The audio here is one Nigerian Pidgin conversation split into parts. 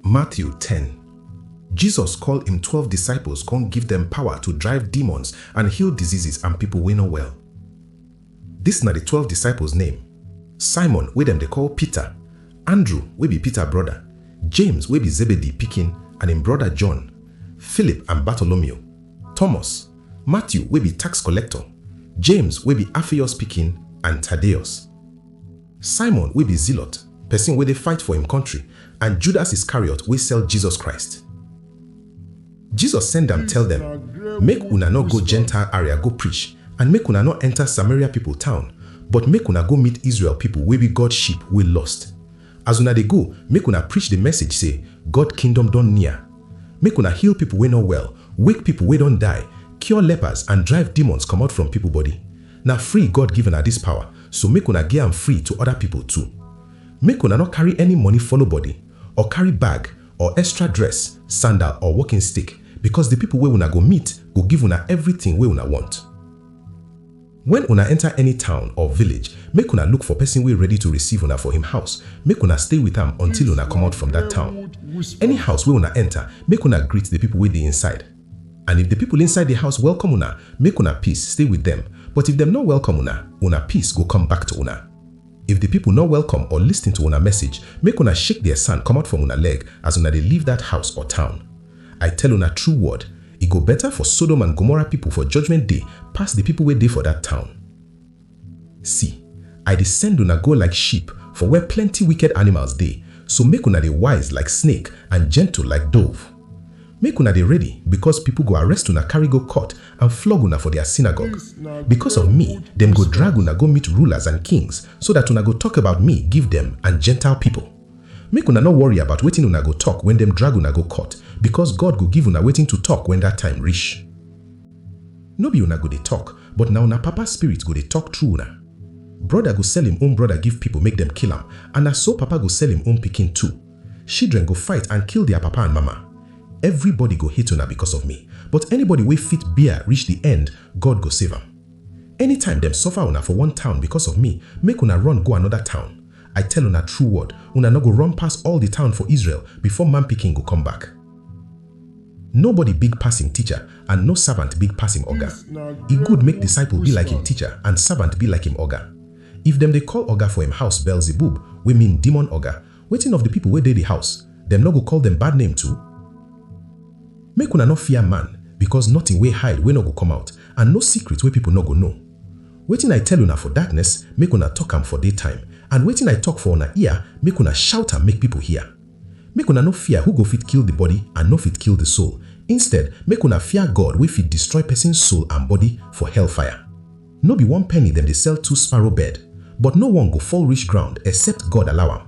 Matthew ten. Jesus call im twelve disciples con give dem power to drive demons and heal diseases and pipo wey no well. Dis na di twelve disciples name, Simon wey dem dey call Peter, Andrew wey be Peter broda, James wey be Zebedee pikin and im broda John, Philip and Bartholomew, Thomas, Matthew wey be tax collector, James wey be Alphaeus pikin and Thaddeus. Simon wey be zealot, pesin wey dey fight for im kontri, and Judas Iscariot wey sell Jesus Christ. Jesus send am tell dem, Make una nor go Gentile aria go preach, and make una nor enta Samaria pipo town, but make una go meet Israel pipo wey be God sheep wey lost. As una dey go, make una preach di message sey, God Kingdom don near. Make una heal pipo wey nor well, wake pipo wey don die, cure lepers and drive demons comot from pipo body. Na free God give una dis pawa, so make una gi am free to oda pipol too. Make una nor karry any moni follow body, or karry bag, or extra dress, sandal, or wokin stick, bikos di pipol wey una go meet go give una evritin wey una wont. Wen una enta any town or village, make una look for pesin wey ready to receive una for him house, make una stay wit am until una komot from dat town. Any house wey una enta, make una greet di pipol wey dey inside. And if di pipol inside di house welkom una, make una peace stay wit dem, but if dem nor welkom una, una peace go kom back to una. If di pipol nor welkom or listin to una message, make una shake di sand komot from una leg as una dey leave dat house or town. I tell una true word, e go beta for Sodom and Gomorrah pipol for Judgment Day pass di pipol wey dey for dat town. See, I dey send una go like sheep for where plenty wicked animals dey, so make una dey wise like snake and gentle like dove. Make una dey ready because people go arrest una carry go court and flog una for their synagogue. Because of me, dem go drag una go meet rulers and kings so that una go talk about me give dem and Gentile people. Make una no worry about wetin una go talk when dem drag una go court because God go give una wetin to talk when that time reach. No be una go dey tok, but na una Papa spirit go dey tok through una. Broda go sell im own broda give pipo make dem kill am, and na so papa go sell im own pikin too. Shidren go fight and kill dia papa and mama. Evribody go hate una becos of mi, but anybody wey fit bear rish di end, God go save am. Anytime dem suffer una for one town becos of mi, make una run go anoda town. I tell una true word, una nor go run pass all di town for Israel before Man Pikin go come back. Nobody big pass im teacher, and no servant big pass im oga. E good make disciple be like im teacher, and servant be like im oga. If dem dey call oga for im house Beelzebub, wey mean demon oga, wetin of di pipo wey dey di house? Dem nor go call dem bad name too? Make una nor fear man, becos notin wey hide wey nor go come out, and no secret wey pipo nor go know. Wetin I tell una for darkness, make una tok am for day time, and wetin I tok for una ear, make una shout am make pipo hear. Make una no fear who go fit kill di body and no fit kill di soul, instead, make una fear God wey fit destroy pesin soul and body for hellfire. No be one penny dem dey sell two sparrow bird, but no one go fall reach ground except God allow am.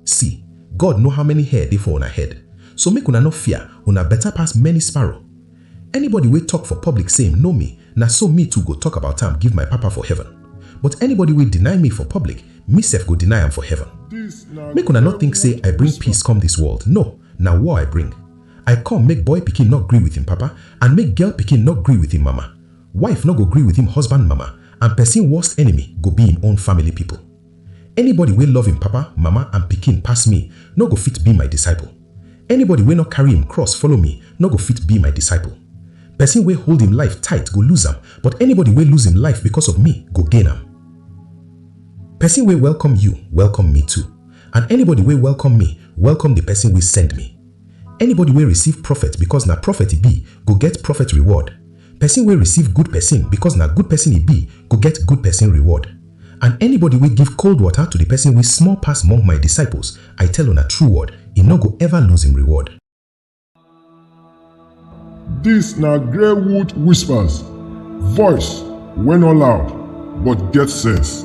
See, God know how many hair dey for una head, so make una no fear, una beta pass many sparrow. Anybody wey tok for public sey im know me, na so me too go tok about am give my Papa for heaven. But anybody wey deny me for public, me sef go deny am for heaven. Make una nor tink sey I bring peace come dis world, no, na war I bring. I come make boy pikin nor gree with im papa, and make girl pikin nor gree with im mama. Wife nor go gree with im husband mama, and pesin worst enemy go be im own family pipo. Anybody wey love im papa, mama and pikin pass me nor go fit be my disciple. Anybody wey nor carry im cross follow me nor go fit be my disciple. Pesin wey hold im life tight go lose am, but anybody wey lose im life because of me go gain am. Pesin wey welcome you, welcome me too, and anybody wey welcome me, welcome di Pesin wey send me. Anybody wey receive prophet because na prophet e be go get prophet reward, Pesin wey receive good pesin bikos na good pesin e bi go get good pesin reward. And anybody wey give kold wota to di pesin wey small pass mong my disciples, I tell una true word, e nor go ever lose im reward. Dis na Greywood Whispers, voice wey no loud but get sense.